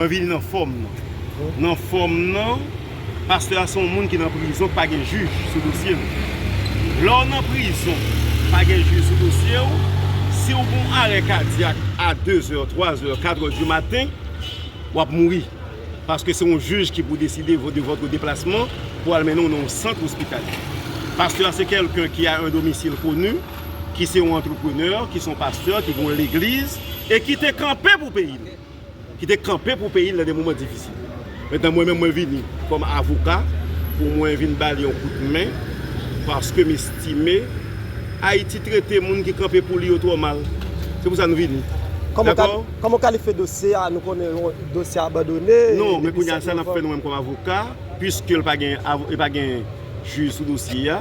Mwen vini nan fòm nan. Nan fòm nan, pastè a se yon moun ki nan prizon pa gen jij sou dosye l. Lè w nan prizon pa gen jij sou dosye w, si w gon arè kadyak a 2 zè, 3 zè, 4 zè di maten, w ap mouri. Paske se yon jij ki pou deside de vòtre deplasman pou al mennen w nan yon sant ospitalye. Pastè a se kèlken ki a un domicile connu, ki se yon antreprenè, ki se yon pastè, ki gen yon legliz e ki te kanpe pou peyi l. ki te kanpe pou peyi l nan de moman difisil. Mentnan mwen menm mwen vini kòm avoka pou mwen vin ba li yon kout men paske m estime Ayiti trete moun ki kanpe pou li yo twò mal. Se pou sa nou vini. Dakò? Kòman w kalifye dosye a? Nou konnen yon dosye abandone. Non, men kounye a sa n ap fè nou menm kòm avoka, piske l pa gen jij sou dosye a.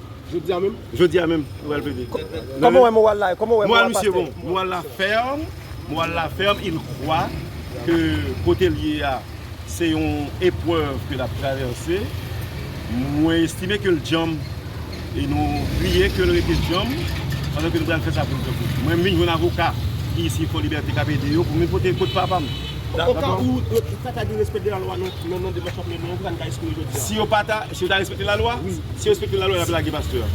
Jodi a menm? Jodi a menm nou pral plede. Kòman ou wè moral la? Kòman ou wè moral pastè? Moral misye bon. Moral la fèm. Moral la fèm. Il kwa ke kote l ye a se yon eprèv ke l ap travèse. Mwen estime ke l djanm e nou priye ke l rete djanm pandan ke nou pral fè sa pou l kanpe. Mwen m vin jwenn avoka ki isi Fòlibète k ap ede yo pou m vin pote kout papa m. Oka ou sa ta di respè de la lwa nan demache w ap mennen an, ou pa ta espere jodi a? Si yo ta respekte la lwa, si yo respekte la lwa yap lage pastè a.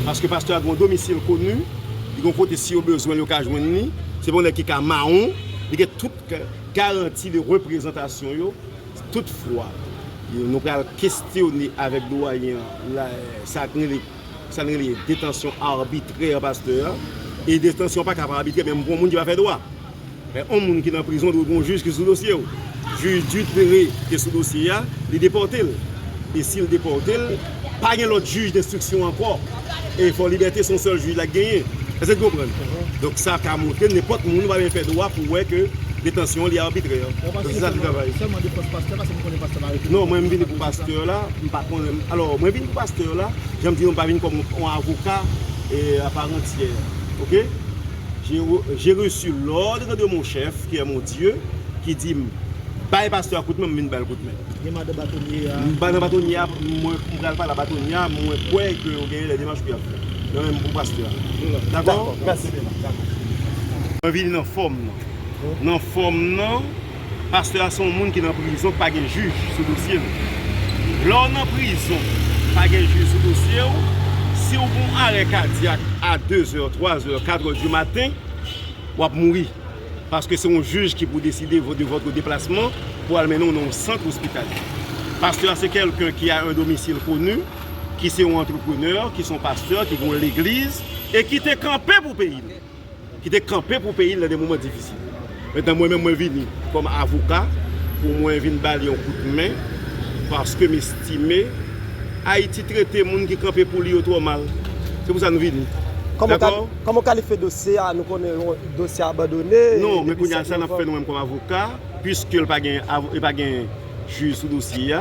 Paske pastè a gen yon domisil koni, li gen yon kote si yo bezwen l yo ka jwenn li, se pa yon nèg ki ka mawon, li gen tout garanti de reprezantasyon yo. Toutfwa, nou pral kestyone avèk Doyen an, sa ki rele. Sa n rele detansyon arbitrè pastè e detansyon an paka pa arbitrè menm pou yon moun ki pa fè dwa men yon moun ki nan prizon dwe gen yon jij ki sou dosye w jij Dutré te sou dosye a li depòte l e si l depòte l pa gen lòt jij denstriksyon ankò e fò libète se yon sèl jij la genyen èske n konprann donk sa ka montre nenpòt moun pa byen fè dwa pou wè ke detansyon li arbitrè non mwen m vini pou pastè la. M pa kon renmn alò mwen vin pou pastè yo la jan m di yo m pa vin kòm on avoka a part entière ok j'ai reçu l'ordre de mon chef qui est mon Dieu ki di m bay pastè a kout men m vin bal kout men m madan batonye a m madan batonye a mwen m pral pale a batonye a mwen kwè ke yo gen de demach pou y ap fè nan menm pou pastè a dakò mèsi mwen vini nan fòm nan nan fòm nan. Pastè a se yon moun ki nan prizon ki pa gen jij sou dosye l. Lè w nan prizon pa gen jij sou dosye w, si w gen yon arè kadyak a dezè, twazè, katrè di maten, w ap mouri. Paske se yon jij ki pou deside de votre deplasman pou al mennen w nan yon sant ospitalye. Pastè a se kèlken ki a un domicile connu, ki se yon antreprenè, ki se yon pastè, ki gen yon legliz e ki te kanpe pou peyi l. ki te kanpe pou peyi l nan de moman difisil. Mentnan mwen menm mwen vini kòm avoka pou mwen vin ba li yon kout men paske m estime Ayiti trete moun ki kanpe pou li yo twò mal. Se pou sa nou vini. Kòman w kalifye dosye a? Nou konnen dosye a abandone. Non, men kounye a sa n ap fè nou menm kòm avoka, piske l pa gen jij sou dosye a.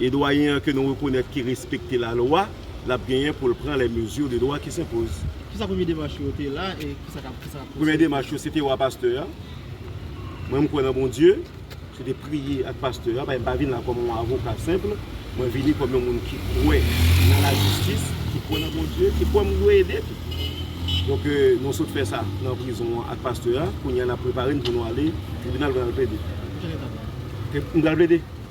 e Dwayen an ke nou rekonèt ki respekte lalwa, l ap genyen pou l pran les mesures de droit qui s'imposent. Kisa premye demach yo te la e kisa k ap kisa k ap pwosede? Premye demach yo se te wè pastè a. Mwen m kwè nan Bondye. Se te priye ak pastè a. Paske m pa vin la kòm yon avoka senpl. Mwen vini kòm yon moun ki kwè nan lajistis, ki kwè nan Bondye, ki kwè m dwe ede tou. Donk nou sot fè sa nan prizon an ak pastè a. Kounye a n ap prepare n pou nou ale tribinal pou n al plede. Nan ki pwòchen etap la? M pral plede.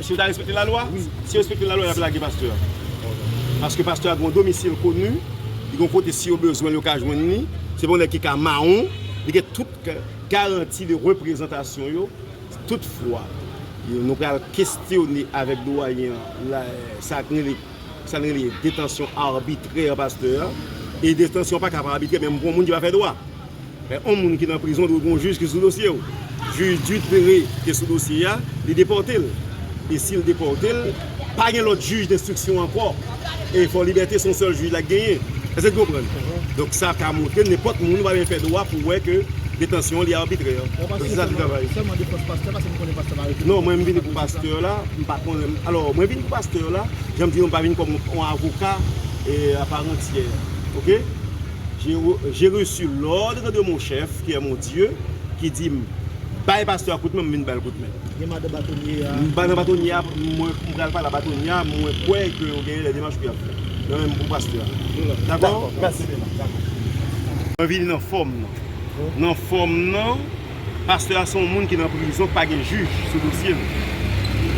Si yo ta respekte la lwa? Wi. Si yo respekte la lwa yap lage pastè a. Paske pastè a gen yon domisil koni, li gen yon kote si yo bezwen l yo ka jwenn li, se pa yon nèg ki ka mawon, li gen tout garanti de reprezantasyon yo. Toutfwa, nou pral kestyone avèk doyen an, sa ki rele Sa n rele detansyon arbitrè pastè e detansyon an paka pa arbitrè menm pou yon moun ki pa fè dwa men yon moun ki nan prizon dwe gen yon jij ki sou dosye w jij di tere ki sou dosye a li depòte l e si l depòte l pa gen lòt jij denstriksyon ankò e fò libète se yon sèl jij la k genyen èske n konprann donk sa ka montre nenpòt moun pa menm fè dwa pou wè ke detansyon li arbitrè non mwen m vini pou pastè la M pa konnen m alò mwen vin pou pastè yo la jan m di nou m pa vin kòm yon avoka a part entière ok j'ai reçu l'ordre de mon chef qui est mon Dieu ki di m bay pastè a kout men m vin bal kout men m pa nan batonye a mwen pral pale a batonye a mwen kwè ke yo gen lè demach pou yap fè nan men m pou pastè a dakò mwen vini nan fòm nan nan fòm nan Pastè a se yon moun ki nan prizon k pa gen jij sou dosye l.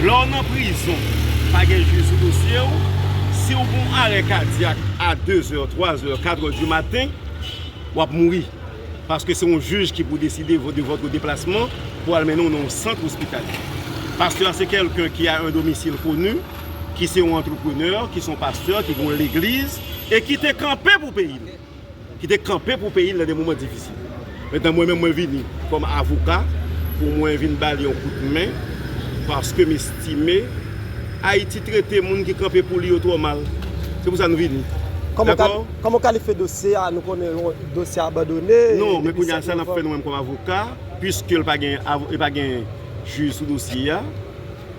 Lè w nan prizon k pa gen jij sou dosye w, si w fon arè kadyak a dezè, twazè, katrè di maten, w ap mouri. Paske se yon jij ki pou deside de votre deplasman pou al mennen w nan yon sant ospitalye. Pastè a se kèlken ki a un domicile connu, ki se yon antreprenè, ki se yon pastè, ki gen yon legliz e ki te kanpe pou peyi l. ki te kanpe pou peyi l nan de moman difisil. Mentnan mwen menm mwen vini kòm avoka pou mwen vin ba li yon kout men paske m estime Ayiti trete moun ki kanpe pou li yo twò mal. Se pou sa nou vini. Dakò? Kòman w kalifye dosye a? Nou konnen yon dosye abandone. Non, men kounya sa n ap fè nou menm kòm avoka, piske l pa gen jij sou dosye a.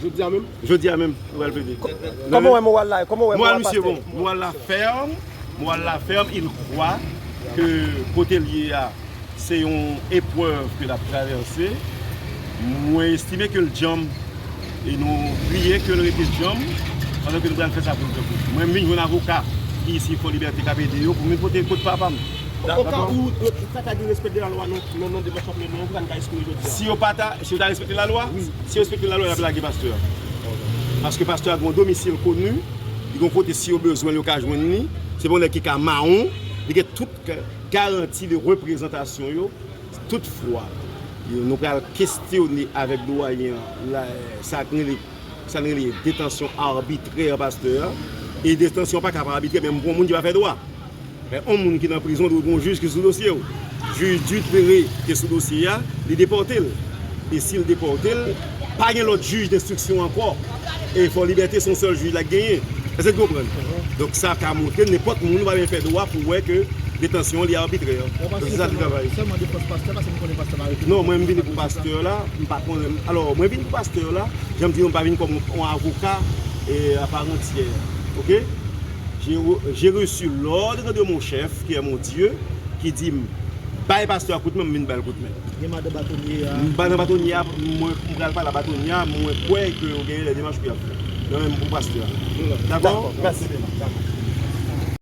Jodi a menm? Jodi a menm nou pral plede. Kòman ou wè moral la? Kòman ou wè moral pastè? Moral misye bon. Moral la fèm. Moral la fèm. Il kwwa ke kote l ye a se yon eprèv ke l ap travèse. Mwen estime ke l djanm e nou priye ke l rete djanm pandan ke nou pral fè sa pou l fè pou l. Mwen vin jwenn avoka ki isi Fòlibète k ap ede yo pou m vin pote kot papa m. Oka ou pa ta gen respè de lalwa nan demanch w ap mennen an, pou sa n ka espere jodi a? Si yo pa ta. Si yo ta respekte la lwa, si yo respekte la lwa yap lage pastè a. Paske pastè a gen yon domisil koni, li gen yon kote si yo bezwen l yo ka jwenn li, se pa yon nèg ki ka mawon, li gen tout garanti de reprezantasyon yo. Tout fwa nou pral kestyone avèk dwayen an sa nou rele sa nou rele detansyon arbitrè pastè a, e detansyon an paka pa arbitrè menm pou yon moun ki pa fè dwa. Men on moun ki nan prizon dwe gon jij ki sou dosye w. Jij Dutrere te sou dosye a, li depòte l. E si l depòte l, pa gen lòt jij denstriksyon ankò. E Fò Libète se yon sèl jij la genyen. Èske n konprann? Donk sa ka montre nenpòt moun pa byen fè dwa pou wè ke detansyon li arbitrè. Donk se sa ki travay. Non, mwen m vini pou pastè la, m pa konnen. Alò, mwen vini pou pastè la, jan m di nou m pa vini kòm on avoka aparantyè. Ok? J'ai reçu l'ordre de mon chef qui est mon Dieu ki di m bay pastè a kout men m vin bal kout men. Gen madan batonye a. Madan batonye a mwen pral pale a batonye a mwen kwè ke yo gen lè demach pou yap fè. Nan menm pou pastè a. Dakò? Mèsi.